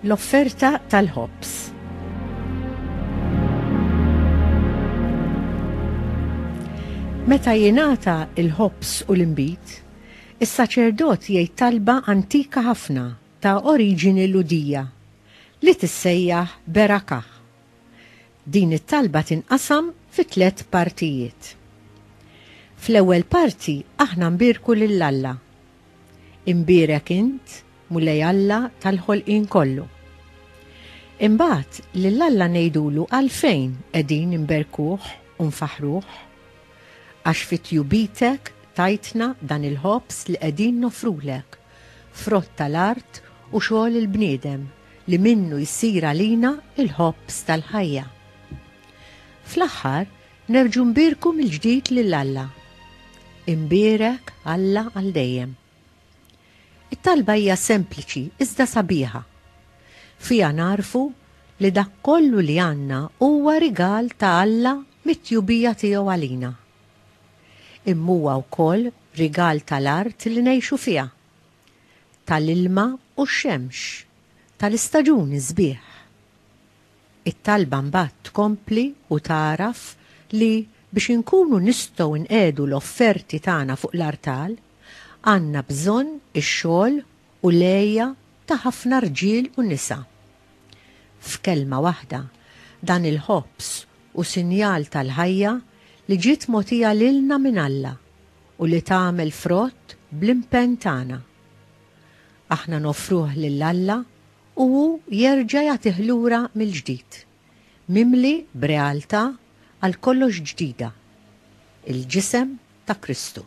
L-offerta tal-ħobs. Meta jingħata il-ħobs u l-inbid, is-saċerdot jgħid talba antika ħafna ta' oriġini Ludija li tissejjaħ berakah, Din it-talba tinqasam fi tliet partijiet. Fl-ewwel parti aħna nbierku lil Alla. Imbierek int, Mulej Alla tal-ħolqien kollu. Imbagħad lil Alla ngħidulu għalfejn qegħdin inberkuh u nfaħħruh. Għax fi tjubitek tajtna dan il-ħobż li qegħdin noffrulek, frott tal-art u xogħol il-bniedem. li minnu jsir għalina l-ħobż tal-ħajja. Fl-aħħar, nerġgħu nbierku mill-ġdid lil Alla. Imbierek Alla għal dejjem. It-talba hija sempliċi iżda sabiħa. Fiha nagħrfu li dak kollu li għandna huwa rigal ta' Alla mit-tjubija tiegħu għalina. Imma huwa wkoll rigal tal-art li ngħixu fiha, tal-ilma u x-xemx, tal-istaġuni sbieħ. It-talba mbagħad tkompli u tagħraf li biex inkunu nistgħu nqiegħdu l-offerti tagħna fuq l-artal, għandna bżonn ix-xogħol u l-għeja ta' ħafna rġiel u nisa. F'kelma waħda, dan il-ħobż hu sinjal tal-ħajja li ġiet mogħtija lilna minn Alla. u li tagħmel frott bl-impenn tagħna. Aħna noffruh lil Alla u hu jerġa' jagħtih lura mill-ġdid, mimli b'realtà għal kollox ġdida, il-Ġisem ta' Kristu.